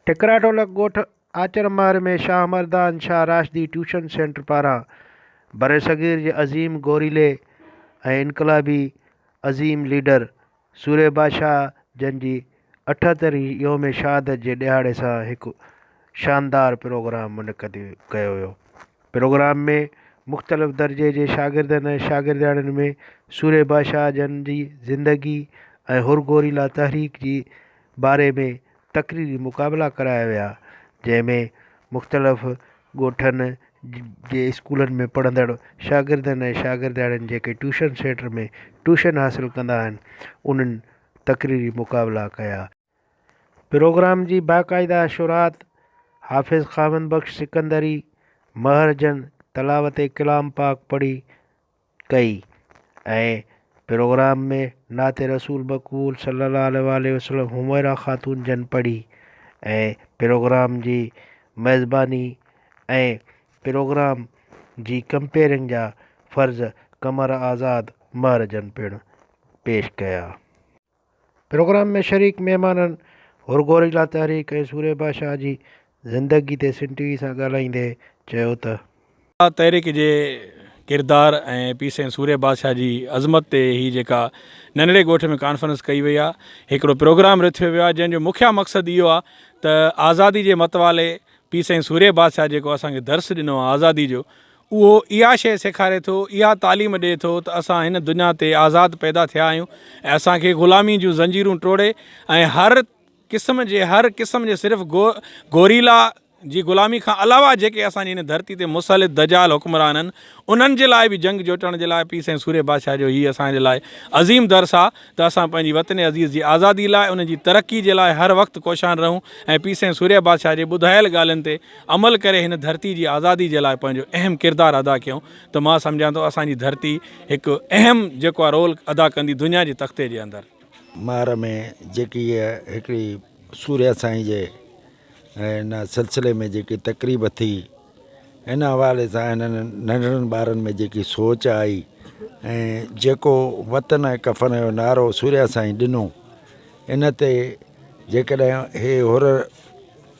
ٺڪرا ڍولڪ ڳوٺ Achar Mahar ۾ Shah Mardan Shah Rashidi tuition centre پاران برصغير جي عظيم گوريلي ۽ انقلابي عظيم ليڊر سوري بادشاهه جن جي اٺهترين يوم شهادت جي ڏهاڙي سان هڪ شاندار پروگرام منعقد ڪيو ويو. پروگرام ۾ مختلف درجي جي شاگردن ۽ شاگردياڻين ۾ سوري بادشاهه جن جي زندگي ۽ حر گوريلا تحريڪ جي باري ۾ تقريري مقابلا ڪرايا ويا جنهن ۾ مختلف ڳوٺن جي اسڪولن ۾ پڙهندڙ شاگردن ۽ شاگردياڻين جيڪي ٽيوشن سينٽر ۾ ٽيوشن حاصل ڪندا آهن انهن تقريري مقابلا ڪيا. پروگرام جي باقاعده شروعات حافظ خاوند بخش سڪندري مهر جن تلاوت ڪلام پاڪ پڙهي ڪئي ۽ پروگرام ۾ نعت رسول مقبول صلي الله عليه وآله وسلم حميرا خاتون جن پڙهي ۽ پروگرام جي ميزباني ۽ پروگرام جي ڪمپيئرنگ جا فرض قمر آزاد مهر جن پڻ پيش ڪيا. پروگرام ۾ شريڪ مهمانن هورگوريلا تحريڪ ۽ سوريڀا شاهه جي زندگي تي سنڌ ٽي وي سان ڳالهائيندي چيو ته. گوريلا تحريڪ جي ڪردار ۽ پيء سائين سوريڀا شاهه جي عظمت تي هي جيڪا ننڍڙي ڳوٺ ۾ ڪانفرنس ڪئي وئي آهي هڪڙو پروگرام رٿيو ويو آهي جنهن جو مکيه مقصد اهو آهي ته آزادي جي متوالي پيء سائين سوريڀا شاهه جيڪو اسان کي درس ڏنو آهي آزادي جو اهو اها شيء سيکاري ٿو، اها تعليم ڏئي ٿو ته اسان هن دنيا تي آزاد پيدا ٿيا آهيون ۽ اسان کي غلامي جون زنجيرون ٽوڙي ۽ هر قسم جي هر قسم جي صرف گوريلا جي غلامي کان علاوه جيڪي اسان جي هن ڌرتي تي مسلط دجال حڪمران آهن انهن جي لاء به جنگ جوٽڻ جي لاء پير سائين سورهيه بادشاهه جو هي اسان جي لاء عظيم درس آهي ته اسان پنهنجي وطن عزيز جي آزادي لاء ان جي ترقي جي لاء هر وقت ڪوشان رهون ۽ پير سائين سورهيه بادشاهه جي ٻڌايل ڳالهين تي عمل ڪري هن ڌرتي جي آزادي جي لاء پنهنجو اهم ڪردار ادا ڪيو ته مان سمجهان ٿو اسان جي ڌرتي هڪ اهم جيڪو آ رول ادا ڪندي دنيا جي تختي جي اندر. مهر ۾ جيڪي هيء هڪڙي سورهيا سائين جي ان سلسلي ۾ جيڪي تقريب ٿي ان حوالي سان هنن ننڍڙن ٻارن ۾ جيڪي سوچ آئي ۽ جيڪو وطن ۽ ڪفن جو نعرو سورهيا سائين ڏنو ان تي جيڪڏهن هي هر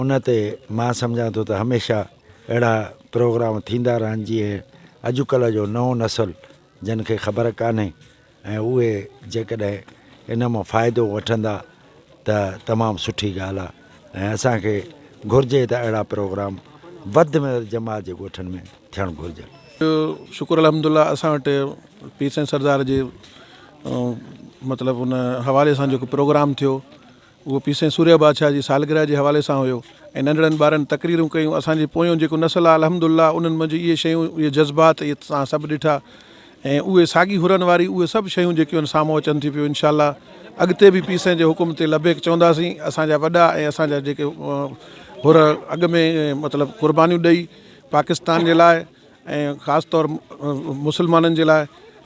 ان تي مان سمجهان ٿو ته هميشه اهڙا پروگرام ٿيندا رهن جيئن اڄڪلهه جو نئون نسل جن کي خبر ڪانهي ۽ اهي جيڪڏهن ان مان فائدو وٺندا ته تمام سٺي ڳالهه آهي ۽ اسان کي گهرجي ته اهڙا پروگرام وڌ ۾ وڌ جماعت جي ڳوٺن ۾ ٿيڻ گهرجن. شڪر الحمد الله اسان وٽ پير سائين سردار جي مطلب ان حوالي سان جيڪو پروگرام ٿيو اهو پي سين سوريا بادشاهه جي سالگرهه جي حوالي سان هيو ۽ ننڍڙن ٻارن تقريرون ڪيون اسان جي پويون جيڪو نسل آهي الحمد الله انهن منجهه اهي شيون اهي جذبات اهي تسان سڀ ڏٺا ۽ اهي ساڳي حرن واري اهي سڀ شيون جيڪيون آهن سامهون اچن ٿي پيون انشاء الله اڳتي به پي سين جي حڪم تي لبيڪ چونداسين اسان جا وڏا ۽ اسان جا جيڪي حر اڳ ۾ مطلب قربانيون ڏئي پاڪستان جي لاء ۽ خاص طور مسلمانن جي لاء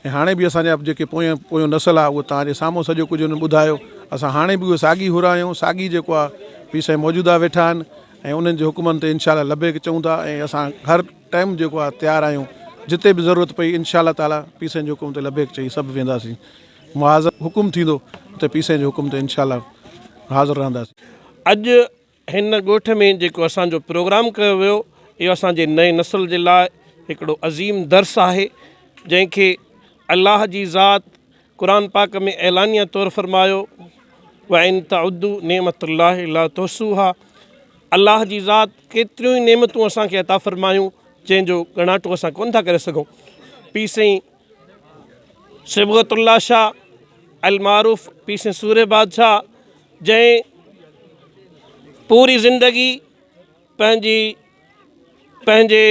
۽ هاڻي به اسان جا جيڪي پويان پويون نسل آ اهو توهان جي سامهون سڄو ڪجهه هن ٻڌايو اسان هاڻي به اهي ساڳي حرا آهيون ساڳي جيڪو آ پير سائين موجودا ويٺا آهن ۽ انهن جي حڪمن تي انشاء الله لبيڪ چئون ٿا ۽ اسان هر ٽائيم جيڪو آ تيار آهيون جتي به ضرورت پئي انشاء الله تعالي پير سائين جي حڪم تي لبيڪ چئي سڀ وينداسين محاذ حڪم ٿيندو ته پير سائين جي حڪم تي انشاء الله حاضر رهنداسين. اڄ هن ڳوٺ ۾ جيڪو اسان جو پروگرام ڪيو ويو اهو اسان جي نئين نسل جي لاء هڪڙو عظيم درس آهي جنهن کي الله جي ذات قرآن پاڪ ۾ اعلانيه طور فرمايو وان تعدو نعمت الله لا تحصوها الله جي ذات ڪيتريون ئي نعمتون اسان کي عطا فرمايون جنهن جو ڳڻاٽو اسان ڪونه ٿا ڪري سگهون پي سائين صبغت الله شاهه المعروف پي سين سوري بادشاهه جنهن پوري زندگي پنهنجي پنهنجي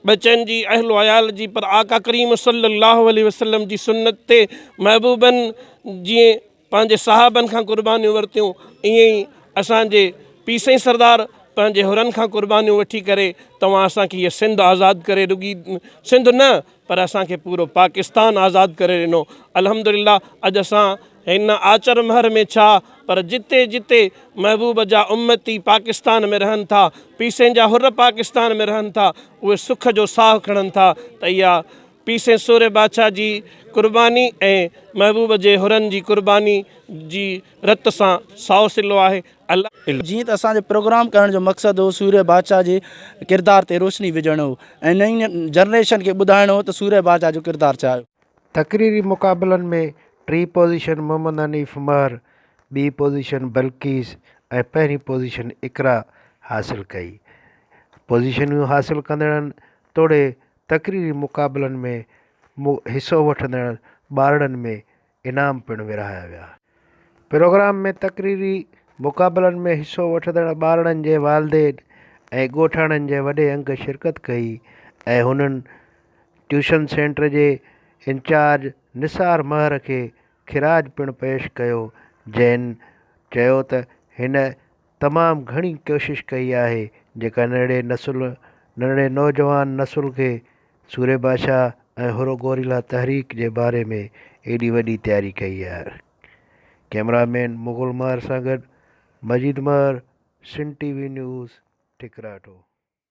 ٻچن جي اهل و عيال جي پر آقا ڪريم صلي الله عليه وسلم جي سنت تي محبوبن جي پنهنجي صاحبن کان قربانيون ورتيون ائين ئي اسان جي پير سائين سردار پنهنجي حرن کان قربانيون وٺي ڪري توهان اسان کي هيء سنڌ آزاد ڪري رڳي سنڌ نه پر اسان کي پورو پاڪستان آزاد ڪري ڏنو الحمدلله اڄ اسان هن آچر مهر ۾ ڇا پر جتي جتي محبوب جا امتي پاڪستان ۾ رهن ٿا پير سائين جا حر پاڪستان ۾ رهن ٿا اهي سک جو ساهه کڻن ٿا ته اها پيء سين سورهيه بادشاهه جي قرباني ۽ محبوب جي حرن جي قرباني جي رت سان سائو صلو آهي. الله. جيئن ته اسان جي پروگرام ڪرڻ جو مقصد هو سورهيه بادشاهه جي ڪردار تي روشني وجهڻ هو ۽ نئين جنريشن کي ٻڌائڻ هو ته سورهيه بادشاهه جو ڪردار ڇا هيو. تقريري مقابلن ۾ ٽين پوزيشن محمد حنيف مهر، ٻي پوزيشن بلقيس ۽ پهرين پوزيشن اقرا حاصل ڪئي. پوزيشنيون حاصل ڪندڙن توڙي تقريري مقابلن ۾ حصو وٺندڙ ٻارڙن ۾ انعام پڻ ورهايا ويا. پروگرام ۾ تقريري مقابلن ۾ حصو وٺندڙ ٻارڙن جي والدين ۽ ڳوٺاڻن جي وڏي انگ شرڪت ڪئي ۽ هنن ٽيوشن سينٽر جي انچارج نثار مهر کي خراج پڻ پيش ڪيو جنهن چيو ته هن تمام گهڻي ڪوشش ڪئي آهي جيڪا ننڍڙي نسل ننڍڙي نوجوان نسل کي سوري بادشاهه ۽ حرو گوريلا تحريڪ جي باري ۾ ايڏي وڏي تياري ڪئي آهي ڪيمرا مين مغل مهر سان گڏ Majeed Mahar Sindh T V news ٺڪراٺو